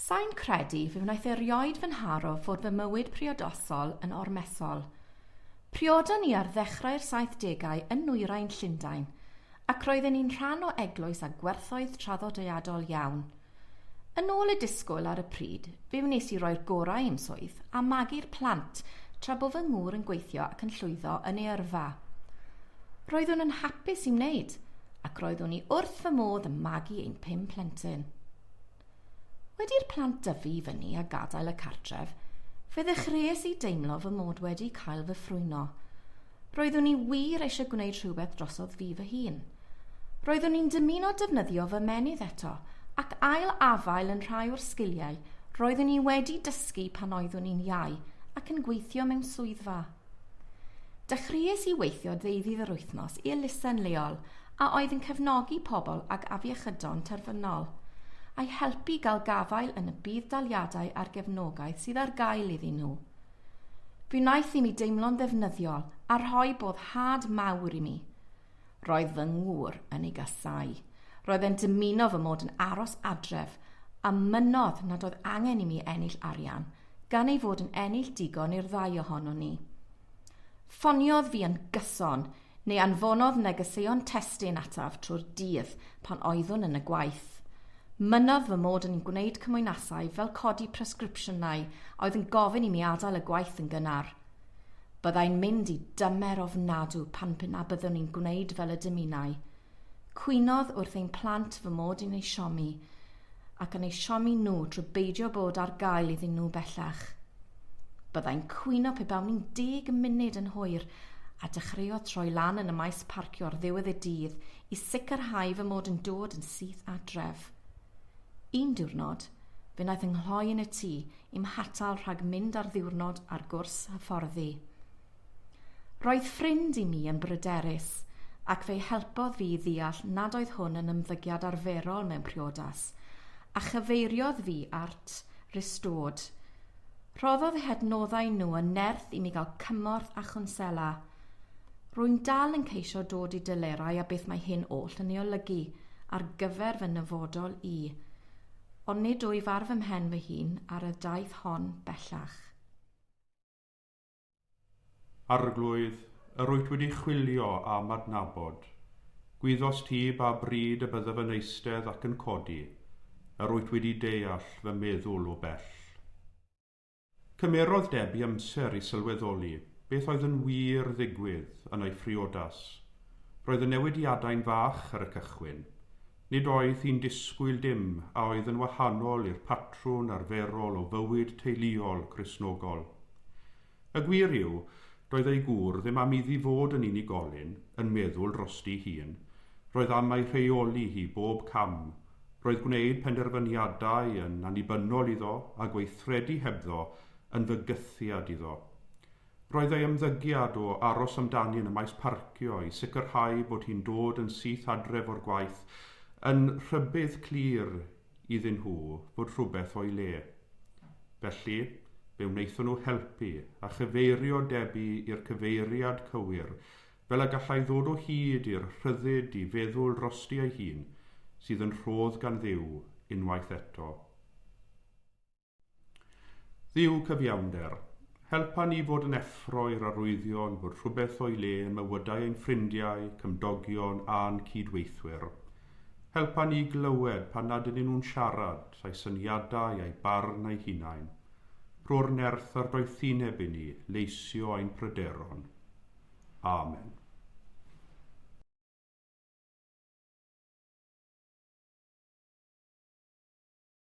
Sa i'n credu fe wnaeth erioed fy nharo fod fy mywyd priodasol yn ormesol. Priodon ni ar ddechrau'r saithdegau yn nwyrain Llundain, ac roedden ni'n rhan o eglwys â gwerthoedd traddodiadol iawn. Yn ôl y disgwyl ar y pryd, fe wnes i roi'r gorau i'm swydd a magu'r plant tra bo fy ngŵr yn gweithio ac yn llwyddo yn ei yrfa. Roeddwn yn hapus i wneud, ac roeddwn i wrth fy modd yn magu ein pum plentyn. Wedi i'r plant dyfu i fyny a gadael y cartref, fe ddechreuais i deimlo fy mod wedi cael fy ffrwyno. Roeddwn i wir eisiau gwneud rhywbeth drosodd fi fy hun. Roeddwn i'n dymuno defnyddio fy menydd eto ac ail-afael yn rhai o'r sgiliau roeddwn i wedi dysgu pan oeddwn i'n iau ac yn gweithio mewn swyddfa. Dechreuais i weithio ddeuddydd yr wythnos i elusen leol a oedd yn cefnogi pobl ag afiechydon terfynol, a'i helpu gael gafael yn y budd-daliadau a'r gefnogaeth sydd ar gael iddyn nhw. Fe wnaeth i mi deimlo'n ddefnyddiol a rhoi boddhad mawr i mi. Roedd fy ngŵr yn ei gasau. Roedd e'n dymuno fy mod yn aros adref a mynnodd nad oedd angen i mi ennill arian, gan ei fod yn ennill digon i'r ddau ohonon ni. Ffoniodd fi yn gyson Ni anfonodd negeseuon testun ataf trwy'r dydd pan oeddwn yn y gwaith. Mynnodd fy mod yn gwneud cymwynasau fel codi presgripsiynau a oedd yn gofyn i mi adael y gwaith yn gynnar. Byddai'n mynd i dymer ofnadw pan p'un a byddwn i'n gwneud fel y dymunai. Cwynodd wrth ein plant fy mod yn ei siomi. ac yn eu siomi nhw drwy beidio bod ar gael iddyn nhw bellach. Byddai'n cwyno pe bawn i'n deg munud yn hwyr a dechreuodd troi lan yn y maes parcio ar ddiwedd y dydd i sicrhau fy mod yn dod yn syth adref. Un diwrnod, fe wnaeth ynghloi yn y tŷ i'm hatal rhag mynd ar ddiwrnod ar gwrs hyfforddi. Roedd ffrind i mi yn bryderus, ac fe'i helpodd fi i ddeall nad oedd hwn yn ymddygiad arferol mewn priodas, a chyfeiriodd fi at Restored. Rhoddodd eu hadnoddau nhw yn nerth i mi gael cymorth a chwnsela. Rwy'n dal yn ceisio dod i delerau â beth mae hyn oll yn ei olygu ar gyfer fy nyfodol i, ond nid wyf ar fy mhen fy hun ar y daith hon bellach. Arglwydd, yr wyt wedi chwilio a'm adnabod. Gwyddost ti ba bryd y byddaf yn eistedd ac yn codi, yr wyt wedi deall fy meddwl o bell. Cymerodd Debbie amser i sylweddoli beth oedd yn wir ddigwydd yn ei phriodas. Roedd y newidiadau'n fach ar y cychwyn, Nid oedd hi'n disgwyl dim a oedd yn wahanol i'r patrwn arferol o fywyd teuluol Cristnogol. Y gwir yw, doedd ei gŵr ddim am iddi fod yn unigolyn, yn meddwl drosti'i hun, roedd am ei rheoli hi bob cam, roedd gwneud penderfyniadau yn annibynnol iddo a gweithredu hebddo yn fygythiad iddo. Roedd ei ymddygiad o aros amdani yn y maes parcio i sicrhau bod hi'n dod yn syth adref o'r gwaith yn rhybudd clir iddyn nhw fod rhywbeth o'i le. Felly, fe wnaethon nhw helpu a chyfeirio Debbie i'r cyfeiriad cywir fel y gallai ddod o hyd i'r rhyddid i feddwl drosti ei hun, sydd yn rhodd gan Dduw, unwaith eto. Dduw cyfiawnder, helpa ni fod yn effro i'r arwyddion bod rhywbeth o'i le yn mywydau ein ffrindiau, cymdogion a'n cyd-weithwyr. Helpa ni i glywed pan nad ydyn nhw'n siarad, a'u syniadau a'u barn a'u hunain. Rho'r nerth a'r doethineb i ni leisio ein pryderon. Amen.